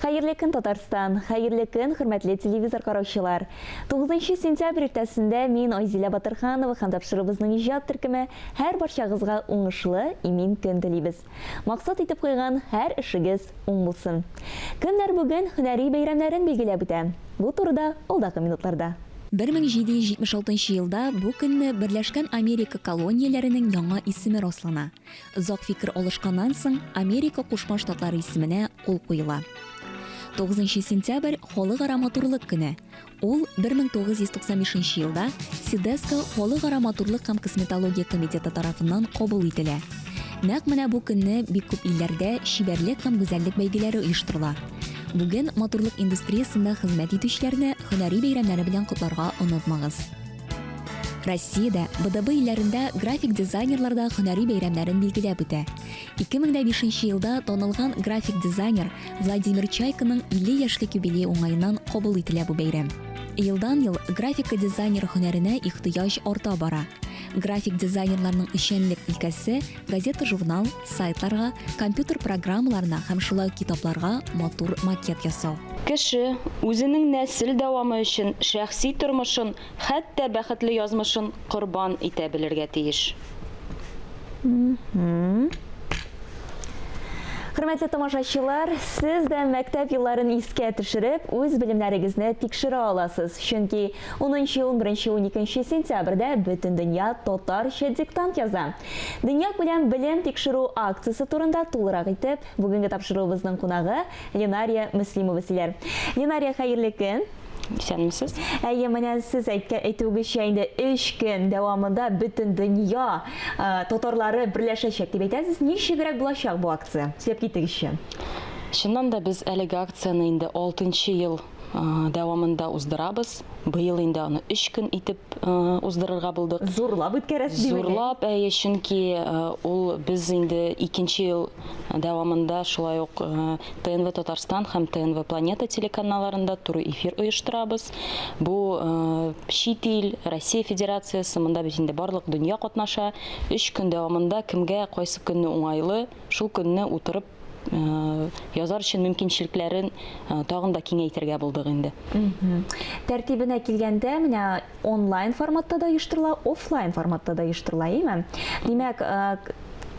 Хәерле көн, Татарстан! Хәерле көн, хөрмәтле телевизор караучылар! Тугызынчы сентябрь иртәсендә мин, Айзилә Батырханова һәм тапшыруыбызның иҗат төркеме һәр барчагызга уңышлы, имин көн телибез. Максат итеп куйган һәр эшегез уң булсын. Кемнәр бүген һөнәри бәйрәмнәрен билгеләп үтә? Бу турыда алдагы минутларда. 1776 елда бу көнне Берләшкән Америка колонияләренең яңа исеме раслана. Озак фикер алышканнан соң, Америка Кушма Штатлары исеменә кул куела. 9 сентябрь, Халыкара матурлык көне. Ул 1995 елда СИДЕСКО Халыкара матурлык һәм косметология комитеты тарафыннан кабул ителә. Нәкъ менә бу көнне бик күп илләрдә чибәрлек һәм гүзәллек бәйгеләре оештырыла. Бүген матурлык индустриясендә хезмәт итүчеләрне һөнәри бәйрәмнәре белән котларга онытмагыз. Россиядә, БДБ илләрендә график дизайнерлар да һөнәри бәйрәмнәрен билгеләп үтә. 2005 елда танылган график дизайнер Владимир Чайканың 50 яшьлек юбилей уңаеннан кабул ителә бу бәйрәм. Елдан-ел графика дизайнер һөнәренә ихтыяҗ арта бара. График дизайнерларның эшчәнлек өлкәсе, газета-журнал, Сайтларга, компьютер программаларына һәм шулай ук китапларга матур макет ясау. Кеше, үзенең нәсел дәвамы өчен шәхси тормышын, хәтта бәхетле язмышын корбан итә белергә тиеш. Хөрмәтле тамашачылар, сез дә мәктәп елларын искә төшереп, үз белемнәрегезне тикшерә аласыз, чөнки унынчы-унберенче-уникенче сентябрьдә Бөтендөнья татарча диктант яза. Дөньякүләм белем тикшерү акциясе турында тулырак итеп, бүгенге тапшыруыбызның кунагы Ленария Мөслимова сөйләр. Ленария, хәерле көн! Исәнмесез. Әйе, менә сез әйткән әйтүегезчә, инде өч көн дәвамында бөтен дөнья татарлары берләшәчәк дип әйтәсез. Ничегрәк булачак бу акция? Сөйләп китегезче. Чыннан да, без әлеге акцияне инде алтынчы ел дәвамында уздырабыз. Быел инде аны өч көн итеп уздырырга булдык. Зурлап үткәрәсез димени? Зурлап, әйе, чөнки ул без инде икенче ел дәвамында шулай ук ТНВ Татарстан һәм ТНВ Планета телеканалларында туры эфир оештырабыз. Бу чит ил, Россия Федерациясе, монда бит инде барлык дөнья катнаша. Өч көн дәвамында кемгә кайсы көнне уңайлы, Шул көнне утырып язар өчен мөмкинчелекләрен тагын да киңәйтергә булдык инде. Тәртибенә килгәндә, менә онлайн форматта да оештырыла, офлайн форматта да оештырыла, әйме? Димәк,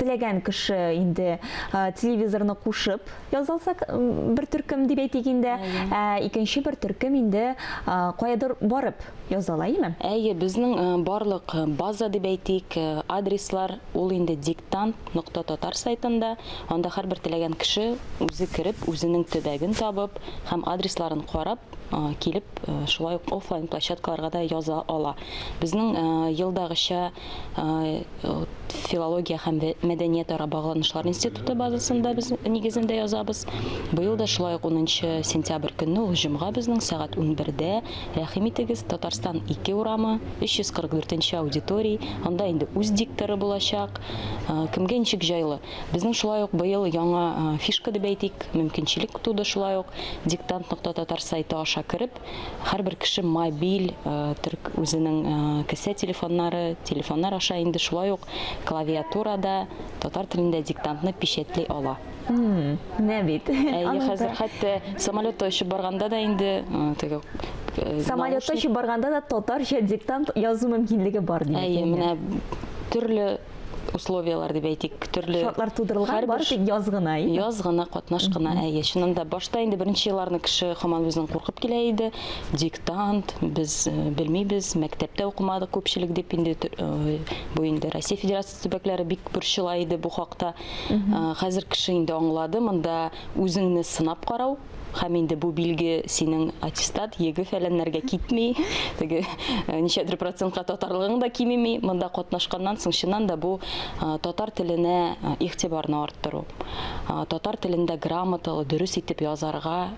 теләгән кеше инде телевизорны кушып язалса бер төркем дип әйтик инде, ә икенче бер төркем инде каядыр барып язала, әйме? Әйе, безнең барлык база дип әйтик, адреслар Ул инде Диктант нокта татар сайтында, анда һәрбер теләгән кеше үзе кереп, үзенең төбәген табып һәм адресларын карап, килеп, шулай ук офлайн площадкаларга да яза ала. Безнең елдагыча филология һәм мәдәниятара багланышлар институты базасында без нигезендә язабыз. Быел да шулай ук 10 сентябрь көнне, ул җомга безнең, сәгать унбердә Рәхим итегез, Татарстан ике урамы, 344 нче аудиторий, анда инде үз дикторы булачак. Кемгә ничек җайлы. Безнең шулай ук быел яңа фишка дип әйтик, мөмкинчелек туды шулай ук. Диктант нокта татар сайты аша кереп, һәрбер кеше мобиль төрк үзенең кесә телефоннары, телефоннар аша инде шулай ук клавиатурада татар телендә диктантны печатьли ала. Менә бит. Әйе, хәзер хәтта самолетта очып барганда да инде теге самолетта очып барганда да татарча диктант язу мөмкинлеге бар димәк. Әйе, менә төрле условиялар дип әйтик, төрле шартлар тудырылган, бары тик яз гына, әйе. Яз гына, катнаш кына, әйе. Чынында башта инде беренче елларны кеше хаман үзен куркып килә иде. Диктант без белмибез, мәктәптә укымадык күпчелек дип инде бу инде Россия Федерациясендә Төбәкләре бик борчыла иде бу хакта. Хәзер кеше инде аңлады, монда үзеңне сынап карау, һәм инде бу билге синең аттестат, еге фәләннәргә китми, теге э, ничәдер процентка татарлыгың да кимеми, монда катнашканнан соң чыннан да бу э, татар теленә э, игътибарны арттыру. Татар телендә грамоталы, дөрес итеп язарга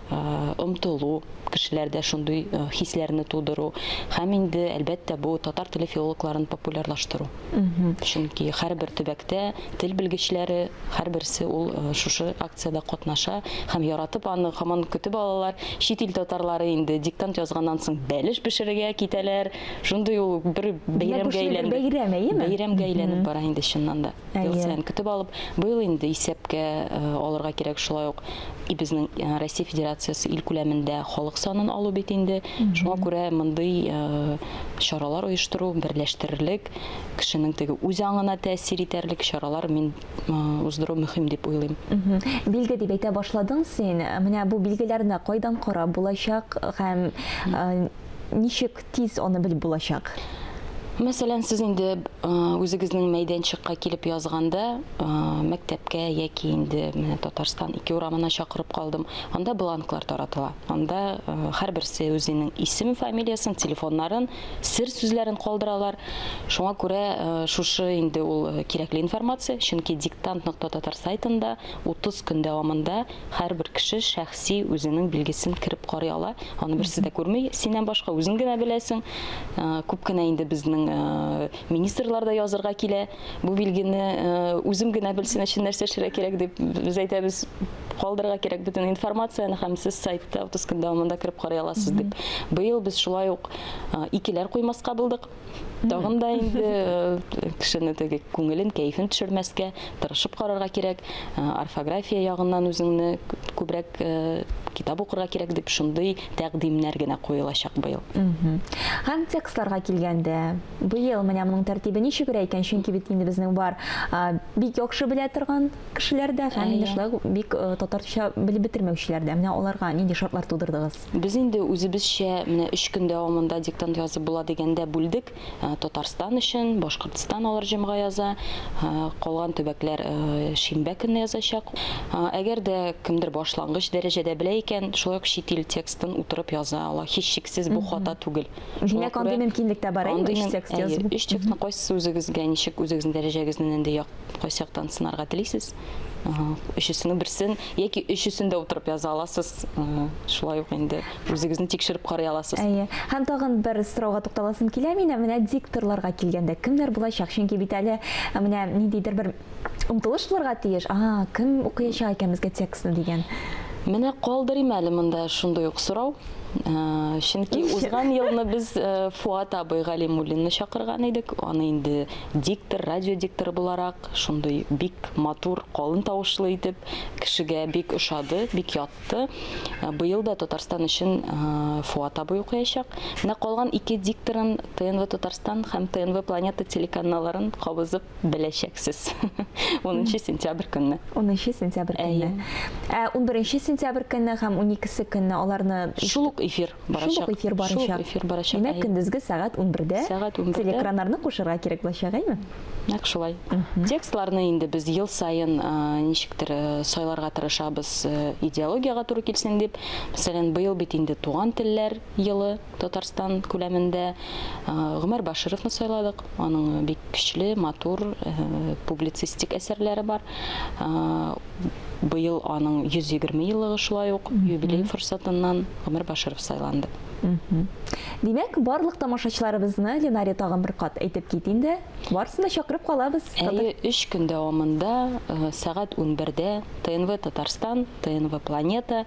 омтылу, кешеләрдә шундый хисләрне тудыру һәм инде әлбәттә бу татар теле филологларын популярлаштыру. Чөнки һәрбер төбәктә тел белгечләре, һәрберсе ул э, шушы акциядә катнаша һәм яратып аны һаман көтеп алалар. Чит ил татарлары инде диктант язганнан соң бәлеш пешерергә китәләр. Шундый ул бер бәйрәмгә әйләнде. Бәйрәм, әйеме? Бәйрәмгә әйләнеп бара инде чыннан да. Ел саен көтеп алып, быел инде исәпкә э, алырга кирәк шулай ук и безнең э, Россия Федерациясе ил күләмендә халык санын алу бит инде. Шуңа күрә мондый чаралар оештыру, берләштерерлек, кешенең теге үз аңына тәэсир итәрлек чаралар мин уздыру мөһим дип уйлыйм. Билге дип әйтә башладың син. Менә бу билгеләрне кайдан карап булачак һәм ничек тиз аны белеп булачак? Мәсәлән, сез инде үзегезнең мәйданчыкка килеп язганда, мәктәпкә яки инде менә Татарстан ике урамына чакырып калдым, анда бланклар таратыла. Анда һәрберсе үзенең исемен, фамилиясен, телефоннарын, сер сүзләрен калдыралар. Шуңа күрә шушы инде ул кирәкле информация, чөнки диктант.татар сайтында 30 көн дәвамында һәрбер кеше шәхси үзенең билгесен кереп карый ала. Аны берсе дә күрми, синнән башка үзең генә беләсең. Күп кенә инде безнең министрлар да язырга килә. Бу билгене үзем генә белсен өчен нәрсә эшләргә кирәк дип без әйтәбез, калдырырга кирәк бөтен информацияне һәм сез сайтта утыз көн дәвамында кереп карый аласыз дип. Быел без шулай ук икеләр куймаска булдык. Тагын да инде кешене теге күңелен, кәефен төшермәскә, тырышып карарга кирәк. Орфография ягыннан үзеңне күбрәк китап укырга кирәк дип шундый тәкъдимнәр генә куелачак быел. Һәм текстларга килгәндә, Быел менә моның тәртибе ничегрәк икән, чөнки бит инде безнең бар бик яхшы белә торган кешеләр дә һәм инде шулай ук бик татарча белеп бетермәүчеләр дә. Менә аларга нинди шартлар тудырдыгыз? Без инде үзебезчә менә өч көн дәвамында диктант язып була дигәндә бүлдек. Татарстан өчен, Башкортстан алар җомга яза, калган төбәкләр шимбә көнне язачак. Әгәр дә кемдер башлангыч дәрәҗәдә белә икән, шулай ук чит ил текстын утырып яза ала. Һичшиксез бу хата түгел. Димәк, андый мөмкинлек тә бар, әйе, өч текст язу. Өч текстны кайсысы үзегезгә ничек, үзегезнең дәрәҗәгезне нинди як, кайсы яктан сынарга телисез? Өчесенең берсен яки өчесен дә утырып яза аласыз. Шулай ук инде үзегезне тикшереп карый аласыз. Әйе. Һәм тагын бер сорауга тукталасым килә минем, менә дикторларга килгәндә, кемнәр булачак? Чөнки бит әле менә ниндидер бер омтылыш булырга тиеш. Ага, кем укыячак икән безгә текстны дигән. Менә калдырыйм әле монда шундый ук сорау. Э, чөнки узган елны без э, Фуат абый Галимуллинны чакырган идек. Аны инде диктор, радио дикторы буларак шундый бик матур, калын тавышлы итеп кешегә бик ошады, бик ятты. Э, быел да Татарстан өчен Фуат абый укыячак. Менә калган ике дикторын ТНВ Татарстан һәм ТНВ Планета телеканалларын кабызып беләчәксез. 10 сентябрь көнне. 10 сентябрь көнне. Ә 11 сентябрь көнне һәм 12 көнне аларны шул ук эфир барачак. Шул ук эфир барачак. Шул эфир барачак. Димәк, көндезге сәгать 11-дә сәгать 11-дә телекраннарны кушырга кирәк булачак, әйме? Нәкъ шулай. Текстларны инде без ел саен ничектер сайларга тырышабыз, идеологиягә туры килсен дип. Мәсәлән, быел бит инде туган телләр елы. Татарстан күләмендә Гомәр Башировны сайладык. Аның бик көчле, матур публицистик әсәрләре бар. Быел аның 120 еллыгы шулай ук юбилей форсатыннан Гомәр Баширов сайланды. Димәк, барлык тамашачыларыбызны Ленари тагын бер кат әйтеп кит инде. Барысын да чакырып калабыз. Әйе, 3 көн дәвамында сәгать 11-дә ТНВ Татарстан, ТНВ Планета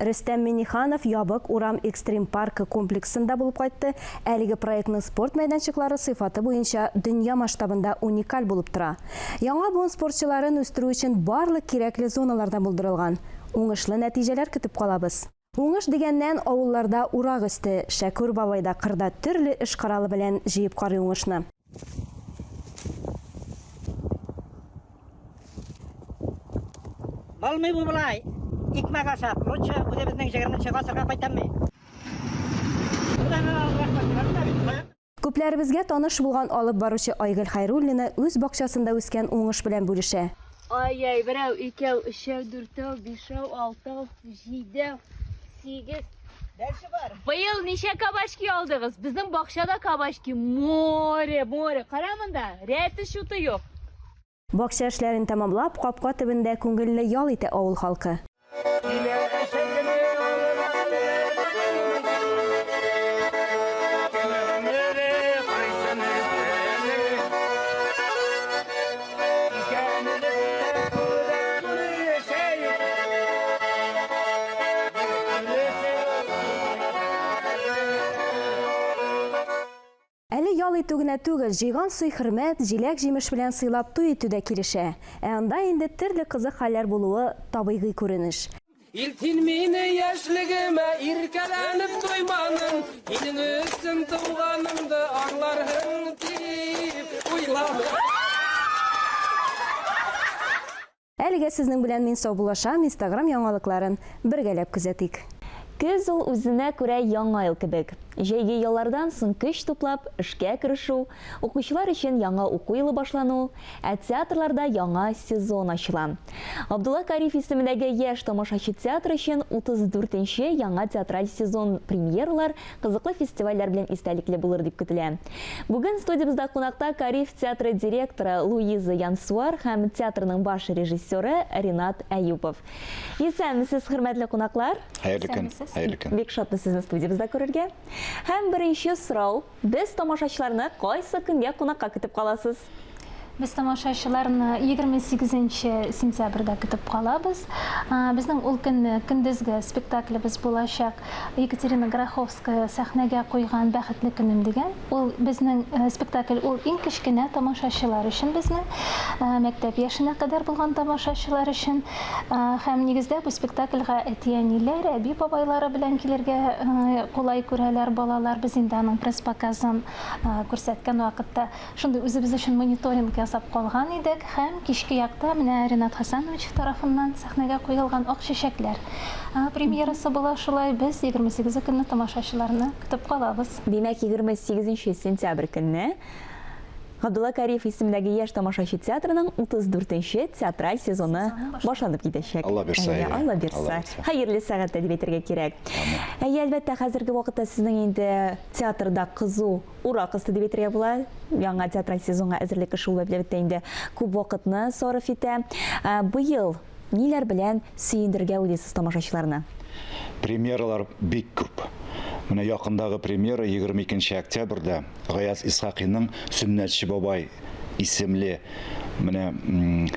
Рөстәм Миңнеханов Ябык урам экстрим-паркы комплексында булып кайтты. Әлеге проектның спорт мәйданчыклары сыйфаты буенча дөнья масштабында уникаль булып тора. Яңа буын спортчыларын үстерү өчен барлык кирәкле зоналардан булдырылган. Уңышлы нәтиҗәләр көтеп калабыз. Уңыш дигәннән, авылларда урак өсте, Шәкүр бабай да кырда төрле эш коралы белән җыеп карый уңышны. Алмый бу былай. Икмәк ашап, лучше үзебезнең 20 чыга сырга кайтамый. Күпләребезгә таныш булган алып баручы Айгөл Хайруллина үз бакчасында үскән уңыш белән бүлешә. Ай-яй, берәү, икәү, өчәү, дүртәү, бишәү, алтау, җидәү. Сигез. Дальше бар. Быел ничә кабачки алдыгыз? Безнең бакчада кабачки море, море. Кара монда, рәте шуты юк. Бакча эшләрен тәмамлап, капка төбендә күңелле ял итә авыл халкы. Әле ял итү генә түгел, җыйган сый-хөрмәт, җиләк-җимеш белән сыйлап туй итү дә килешә. Ә анда инде төрле кызык хәлләр булуы табигый күренеш. Илтин мине яшьлегемә иркәләнеп туйманың, Илең өчен туганымды аңларһың дип уйладым. Әлегә сезнең белән мин саубуллашам, инстаграм яңалыкларын бергәләп күзәтик. Көз ул үзенә күрә яңа ел кебек. Җәйге яллардан соң көч туплап, эшкә керешү, Укучылар өчен яңа уку елы башлану, ә театрларда яңа сезон ачыла. Габдулла Кариев исемендәге Яшь тамашачы театры өчен 34 нче яңа театраль сезон премьералар, кызыклы фестивальләр белән истәлекле булыр дип көтелә. Бүген студиябездә кунакта Кариев театры директоры Луиза Янсуар һәм театрның баш режиссеры Ринат Әюпов. Исәнмесез, хөрмәтле кунаклар! Хәерле көн! Бик шатбыз сезне студиябездә күрергә. Һәм беренче сорау. Без тамашачыларны кайсы көнгә кунакка көтеп каласыз? Без тамашачыларны 28 нче сентябрьдә көтеп калабыз. Безнең ул көнне көндезге спектаклебез булачак, Екатерина Гороховская сәхнәгә куйган Бәхетле көнем дигән. Ул безнең спектакль, ул иң кечкенә тамашачылар өчен безнең, мәктәп яшенә кадәр булган тамашачылар өчен. Һәм нигездә бу спектакльга әти-әниләр, әби-бабайлары белән килергә кулай күрәләр балалар. Без инде аның пресс-показын күрсәткән вакытта шундый үзебез өчен мониторинг ясап калган идек. Һәм кичке якта менә Ренат Хәсәнович тарафыннан сәхнәгә куелган Ак чәчәкләр премьерасы була. Шулай без егерме сигезе көнне тамашачыларны көтеп калабыз. Димәк, егерме сигезенче сентябрь көнне. Габдулла Кариев исемендәге яшь тамашачы театрының 34 нче театраль сезоны башланып китәчәк. Алла бирса, әйе. Әйе, Алла бирса. Хәерле сәгатьтә дип әйтергә кирәк. Әйе, әлбәттә, хәзерге вакытта сезнең инде театрда кызу ура кысты дип әйтергә була. Яңа театраль сезонга әзерлек эше ул, әлбәттә, инде күп вакытны сарыф итә. Быел Ниләр белән сөендерергә уйлыйсыз тамашачыларны? Премьералар бик күп. Менә якындагы премьера, егерме икенче октябрьдә Гаяз Исхакыйның Сөннәтче бабай исемле менә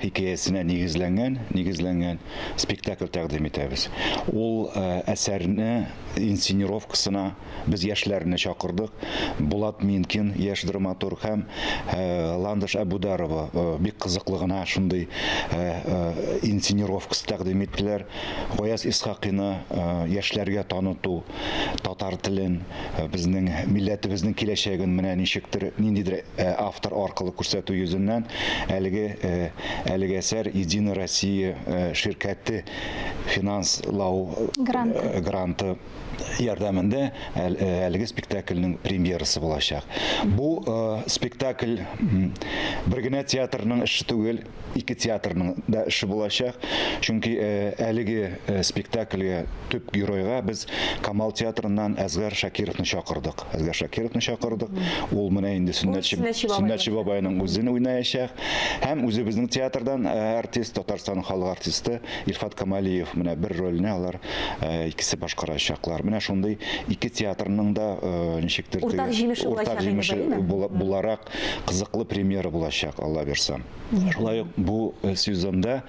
хикәясенә нигезләнгән, нигезләнгән спектакль тәкъдим итәбез. Ул әсәрне инсценировкасына Без яшьләрне чакырдык. Булат Минкин, яшь драматург һәм Ландыш Әбүдарова бик кызыклы гына шундый инсценировкасы тәкъдим иттеләр. Гаяз Исхакыйны яшьләргә таныту, татар телен, безнең милләтебезнең киләчәген менә ничектер, ниндидер автор аркылы күрсәтү йөзеннән, әлеге әлеге әсәр Единая Россия ширкәте финанслау гранты ярдәмендә әлеге спектакльнең премьерасы булачак. Бу спектакль бер генә театрның эше түгел, ике театрның да эше булачак. Чөнки әлеге спектакльгә төп геройга без Камал театрыннан Әзгар Шакировны чакырдык. Әзгар Шакировны чакырдык. Ул менә инде Сөннәтче Сөннәтче бабайның үзен уйнаячак. Һәм үзебезнең театрдан артист, Татарстан халык артисты Илфат Камалиев менә бер рольне алар икесе башкарачаклар. Менә шундый ике театрның да ничектер уртак җимеше уртак җимеше буларак кызыклы премьера булачак, Алла бирса. Шулай ук бу сезонда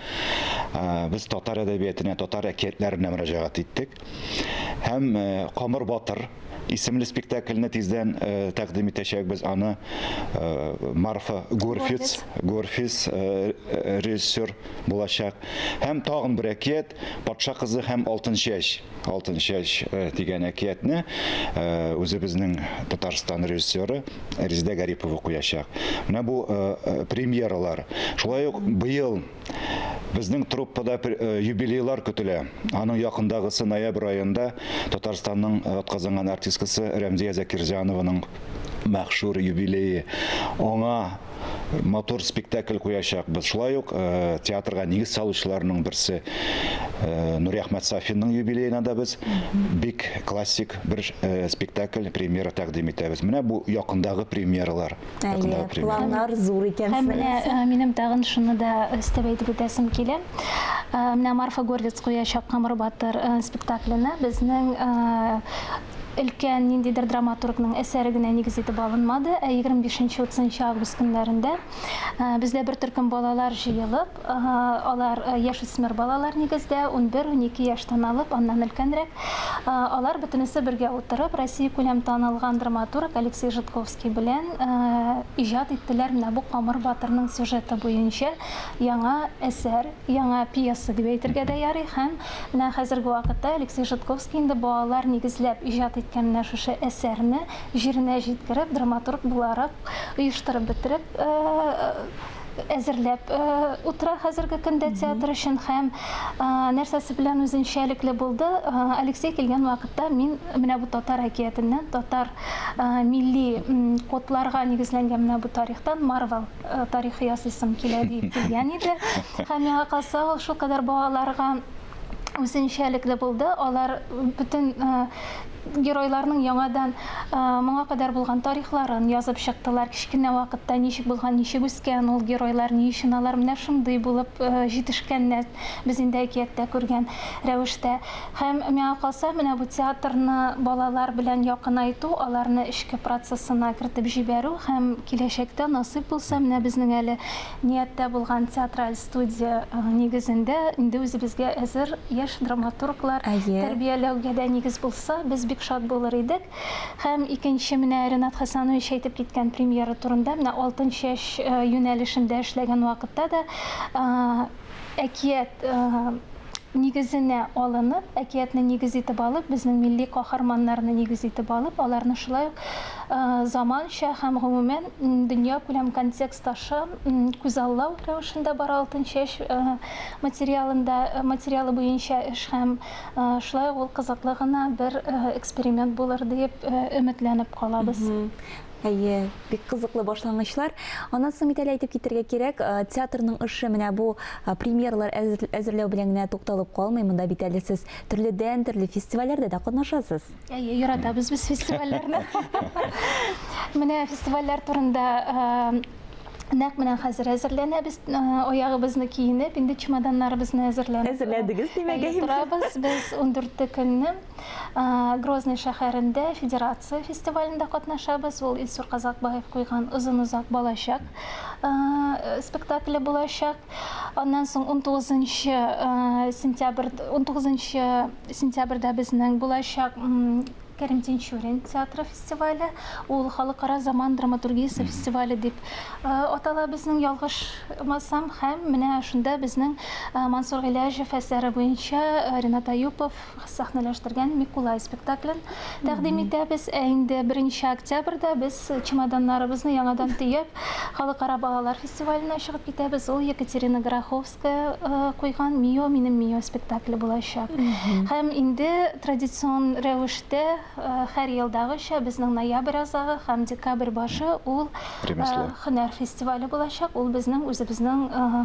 без татар әдәбиятына, татар әкиятләренә мөрәҗәгать иттек. Һәм Камыр батыр исемле спектакльне тиздән э, тәкъдим итәчәкбез аны э, Марфа Горфиц Горфиц э, режиссер булачак һәм тагын бер әкият Патша кызы һәм алтын чәч. Алтын чәч э, дигән әкиятне э, үзебезнең Татарстан режиссеры Резидә Гарипова куячак. Менә бу э, премьералар. Шулай ук быел Безнең труппада э, юбилейлар көтелә. Аның якындагысы ноябрь аенда Татарстанның э, атказанган артисткасы Рәмзия Закирҗанованың мәхшур юбилее. Аңа матур спектакль куячакбыз. Шулай ук э, театрга нигез салучыларның берсе э, Нури Әхмәт Сафинның юбилеена да без бик классик бер э, спектакль премьера тәкъдим итәбез. Менә бу якындагы премьералар. Әйе, планнар зур икән. Һәм менә э, минем тагын шуны да өстәп әйтеп үтәсем килә. Э, менә Марфа Горлиц куячак Камыр батыр э, спектакленә безнең өлкән ниндидер драматургның әсәре генә нигез итеп алынмады, ә 25-30 август көннәрендә бездә бер төркем балалар җыелып, алар яшүсмер балалар нигездә, 11-12 яшьтән алып, аннан өлкәнрәк, алар бөтенесе бергә утырып, Россия күләм танылган драматург Алексей Жидковский белән иҗат иттеләр менә бу Камыр батырның сюжеты буенча яңа әсәр, яңа пьеса дип әйтергә дә ярый һәм Менә хәзерге вакытта Алексей Жидковский инде балалар нигезләп иҗат иткән менә шушы әсәрне җиренә җиткереп, драматург буларак оештырып бетереп әзерләп утыра хәзерге көндә театр өчен һәм нәрсәсе белән үзенчәлекле булды. Алексей килгән вакытта мин менә бу татар әкиятеннән, татар милли кодларга нигезләнгән менә бу тарихтан Марвел Э, тарихы ясыйсым килә дип дигән иде һәм миңа калса ул шулкадәр балаларга үзенчәлекле булды алар бөтен э, геройларның яңадан э, моңа кадәр булган тарихларын язып чыктылар кечкенә вакытта ничек булган ничек үскән ул геройлар ни өчен алар менә шундый булып җитешкәннәр без инде әкияттә күргән рәвештә Һәм, миңа калса, менә бу театрны балалар белән якынайту, аларны эчке процессына кертеп җибәрү һәм киләчәктә, насыйп булса, менә безнең әле нияттә булган театраль студия нигезендә инде үзебезгә әзер яшь драматурглар тәрбияләүгә дә нигез булса, без бик шат булыр идек. Һәм икенче, менә Ренат Хәсәнович әйтеп киткән премьера турында, менә Алтын чәч юнәлешендә эшләгән вакытта да әкият нигезенә алынып, әкиятне нигез итеп алып, безнең милли каһарманнарны нигез итеп алып, аларны шулай ук заманча һәм, гомумән, дөньякүләм контекст аша күзаллау рәвешендә бара Алтынчәч материалында, материалы буенча эш һәм шулай ук ул кызыклы гына бер эксперимент булыр диеп өметләнеп калабыз. Әйе, бик кызыклы башлангычлар. Аннан соң бит әле әйтеп китәргә кирәк, э, театрның эше менә бу э, премьералар әзер- әзерләү белән генә тукталып калмый. Монда бит әле сез төрледән-төрле фестивальләрдә дә катнашасыз. Әйе, яратабыз без фестивальләрне. Менә фестивальләр турында э, нәкъ менә хәзер әзерләнәбез, э, аягыбызны киенеп, инде чемоданнарыбызны әзерләнеп. Әзерләдегез, димәк, Әйе, әйбер. торабыз без 14 көнне. Грозный шәһәрендә Федерация фестивалендә катнашабыз. Ул Илсур Казакбаев куйган Озын-озак балачак спектакле булачак. Аннан соң 19 сентябрь 19 сентябрьдә безнең булачак Кәрим Тинчурин театры фестивале. Ул халыкара заман драматургиясе фестивале дип атала безнең ялгышмасам. Һәм менә шунда безнең Мансур Гыйләҗев әсәре буенча Ренат Аюпов сәхнәләштергән Микулай спектаклен тәкъдим итәбез. Ә инде 1 октябрьдә без чемоданнарыбызны яңадан төяп, Халыкара балалар фестиваленә чыгып китәбез. Ул Екатерина Гороховская э, куйган Мио, минем Мио спектакле булачак. Һәм инде традицион рәвештә э, һәр елдагыча безнең ноябрь азагы һәм декабрь башы ул э, Ремесло. һөнәр фестивале булачак. Ул безнең үзебезнең э,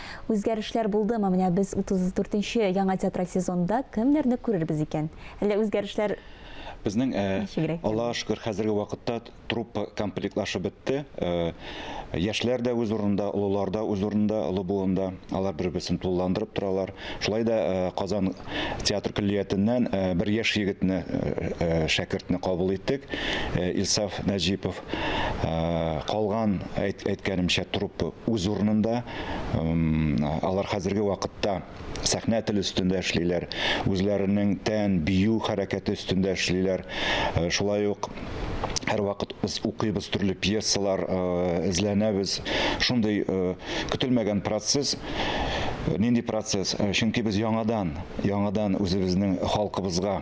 Үзгәрешләр булдымы? Менә без 34 нче яңа театраль сезонда кемнәрне күрербез икән? Әллә үзгәрешләр Безнең, э, Ничегрәк инде? Аллага шөкер, хәзерге вакытта т- труппа комплектлашып бетте. Э, Яшьләр дә үз урынында, олылар да үз урынында, олы буында. Алар бер-берсен тулыландырып торалар. Шулай да э, Казан театр көллиятеннән э, бер яшь егетне, э, э, шәкертне кабул иттек. Э, Илсаф Нәҗипов. калган әйткәнемчә труппа үз урынында алар хәзерге вакытта сәхнә теле өстендә эшлиләр үзләренең тән бию хәрәкәте өстендә эшлиләр шулай ук һәрвакыт без укыйбыз төрле пьесалар эзләнәбез шундый көтелмәгән процесс нинди процесс чөнки без яңадан яңадан үзебезнең халкыбызга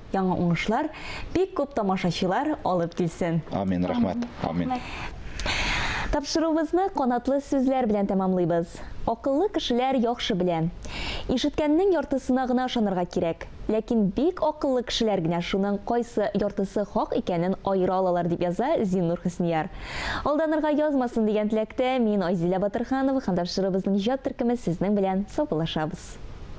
яңа уңышлар, бик күп тамашачылар алып килсен. Амин, рәхмәт. Амин. Тапшыруыбызны канатлы сүзләр белән тәмамлыйбыз. Акыллы кешеләр яхшы белә. Ишеткәннең яртысына гына ышанырга кирәк. Ләкин бик акыллы кешеләр генә шуның кайсы яртысы хак икәнен аера алалар, дип яза Зиннур Хөснияр. Алданырга язмасын дигән теләктә мин Айзилә Батырханова һәм тапшыруыбызның иҗат төркеме сезнең белән саубуллашабыз.